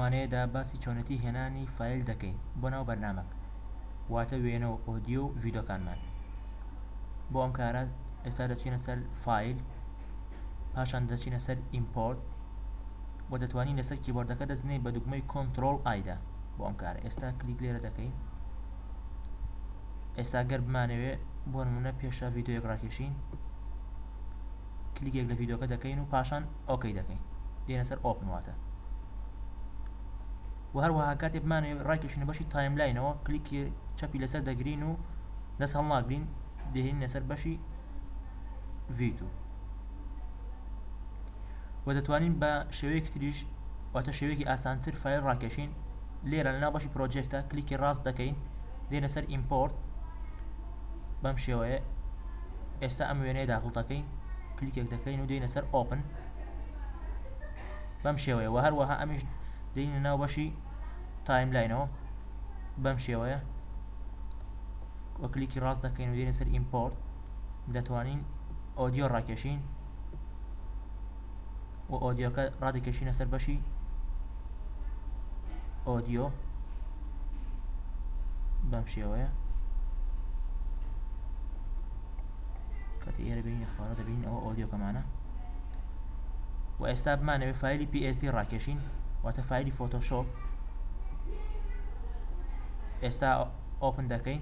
وانەیەدا باسی چۆنێتی هێنانی فایل دەکەین بۆ ناو بەرنامەک واتە وێنە و ئۆدیۆ و ڤیدۆکانمان بۆ ئەم کارە ئێستا دەچینە سەر فایل پاشان دەچینە سەر ئیمپۆرت و دەتوانین لەسەر کیبۆردەکە دەزنەی بە دوگمەی کۆنترۆل ئایدا بۆ ئەم کارە ئێستا کلیک لێرە دەکەین ئێستا گەر بمانەوێ بۆ نمونە پێشە ڤیددیوەک ڕاکێشین کلیکێک لە ڤیدۆکە دەکەین و پاشان ئۆکەی دەکەین دێنە سەر ئۆپن واتە و هەروەها کاتێ بمانەوێ ڕایکێشینە بەشی تایملاینەوە کلیکی چەپی لەسەر دەگرین و دەست هەڵناگرین دێنین لەسەر بەشی ڤیتو و دەتوانین بە شێوەیەک تریش واتە شێوەیەکی ئاسانتر فایل ڕاکێشین لێرە لەناو بەشی پرۆجێکتە کلیکی ڕاست دەکەین دێنە سەر ئیمپۆرت بەم شێوەیە ئێستا ئەم وێنەیە داخڵ دەکەین کلیکێک دەکەین و دێینە سەر ئۆپن بەم شێوەیە و هەروەها ئەمیش دێنە ناو بەشی تایملاینەوە بەم شێوەیە وە کلیکی ڕاست دەکەین و دێنە سەر ئیمپۆرت دەتوانین ئۆدیۆ ڕاکێشین و ئۆدیۆکە ڕادەکێشینە سەر بەشی ئۆدیۆ بەم شێوەیە کەتی ئێرە بینی خوارە دەبین ئەوە ئۆدیۆکەمانە و ئێستا بمانەوێت فیلی PSD ڕاکێشین واتە فیلی فۆتۆشۆپ ئێستا ئۆپن دەکەین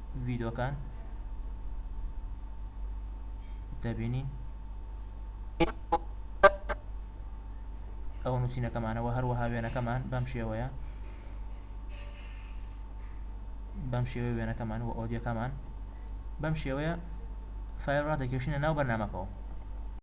ڤیدۆکان دەبینین ئەوە نووسینەکەمانەوە هەروەها وێنەکەمان بەم شێوەیە بەم شێوەیە وێنەکەمان و ئۆدیەکەمان بەم شێوەیە فایل ڕادەکێشینە ناو بەرنمەکەەوە